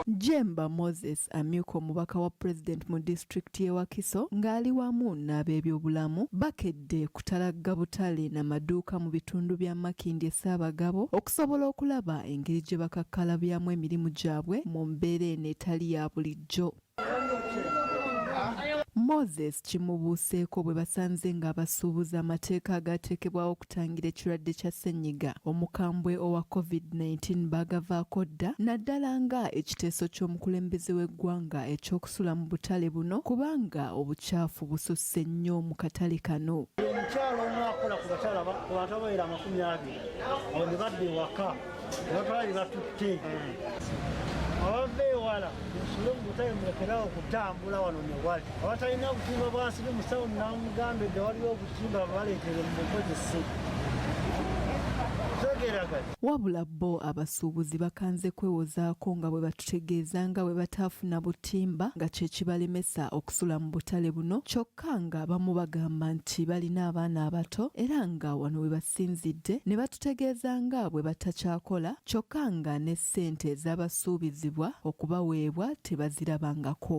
Jemba Moses amyuka omubaka wa President mu disitulikiti y'e Wakiso ng'ali wamu n'abeebyobulamu bakedde kutalagga butale na maduuka mu bitundu bya Makindye Ssaabagabo okusobola okulaba engeri gye bakakkalabyamu emirimu gyabwe mu mbeera eno etali ya bulijjo. Moses kimubuuseeko bwe basanze ng'abasuubuzi amateeka agaateekebwawo okutangira ekirwadde kya ssennyiga omukambwe owa COVID-19 baagavaako dda naddala nga ekiteeso ky'omukulembeze w'eggwanga eky'okusula mu butale buno kubanga obukyafu bususse nnyo mu katale kano. Omukyala omu akola ku batale abantu abawerera amakumi abiri abo ne badda ewaka. Notwali batutte abava ewala ensula omutayi mulekerawo okutambula wano newali abatalina obutimba bwansibi musawo namugamba edde waliwo obutimba bwaleetere mu bukozese wabula bo abasuubuzi bakanze kwewozaako nga bwe batutegeeza nga bwe bataafuna butimba nga kye kibalemesa okusula mu butale buno kyokka kyokka ng'abamu bagamba nti balina abaana abato era nga wano we basinzidde ne batutegeeza nga bwe batakyakola kyokka nga ne ssente ezabasuubizibwa okubaweebwa tebazirabangako.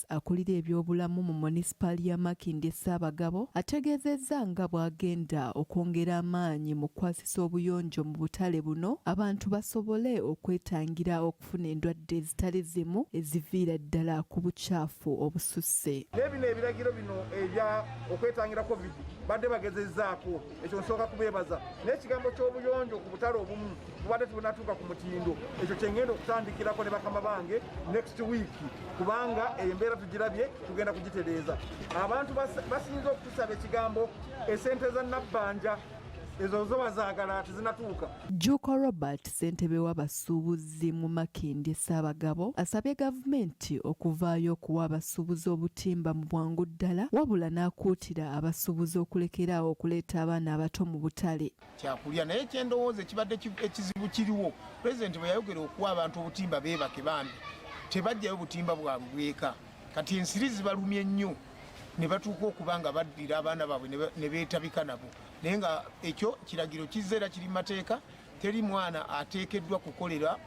Charles akulira ebyobulamu mu Monisipaali ya Makindye Ssaabagabo ategeezezza nga bwagenda okwongera amaanyi mu kukwasisa obuyonjo mu butale buno abantu basobole okwetangira okufuna endwadde ezitali zimu eziviira ddala ku bucaafu obususse. Naye bino ebiragiro bino ebya okwetangira Covid badde bagezezaako. ekyo nsooka kubeebaza naye ekigambo ky'obuyonjo ku butale obumu bubadde tebunatuuka ku mutindo ekyo kyengenda okutandikirako ne bakama bange next week kubanga embeera tugirabye tugenda kugitereeza abantu basinza okutusaba ekigambo esente za nabbanja ezo zoba zaagala tezinatuuka Jjuuko Robert ssentebe w'abasuubuzi mu Makindye Ssaabagabo asabye gavumenti okuvaayo okuwa abasuubuzi obutimba mu bwangu ddala wabula n'akuutira abasuubuzi okulekeraawo okuleeta abaana abato mu butale kyakulya naye kyendowooza ekibadde ekizibu kiriwo pulezidenti bwe yayogera okuwa abantu obutimba beebake bambi tebajjayo butimba bwabwe bweka kati ensiri zibalumye nnyo ne batuuka okuba nga baddira abaana baabwe ne beetabika nabo naye nga ekyo kiragiro kizza era kiri mateeka teri mwana ateekeddwa kukolera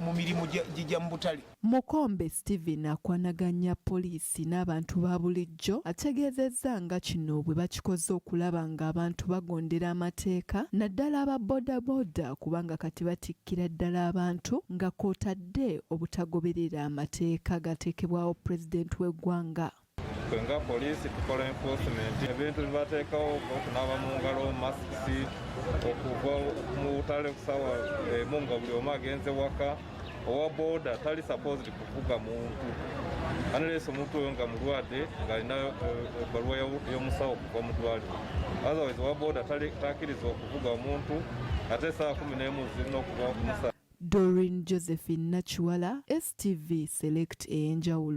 mu mirimu gijja mu butale mukombe stephen akwanaganya poliisi n'abantu ba bulijjo ategeezezza nga kino bwe bakikoze okulaba ng'abantu bagondera amateeka naddala aba bodaboda kubanga kati batikkira ddala abantu nga kwotadde obutagoberera amateeka gateekebwawo pulezidenti w'eggwanga ffe nga poliisi tukola enforcement ebintu bibateekawo okunaaba mu ngalo masiki okuva mu butale kusawa emu nga buli omu agenze waka owa boda tali supposed kuvuga muntu analeesa omuntu oyo nga mulwadde ng'alina eh, ebbaluwa y'omusawo okuva mu ddwaliro otherwise owa boda takiriza okuvuga omuntu ate esaawa kumi n'emu zirina okuva ku musaa Doreen Josephine Nakiwala, STV Select ey'enjawulo.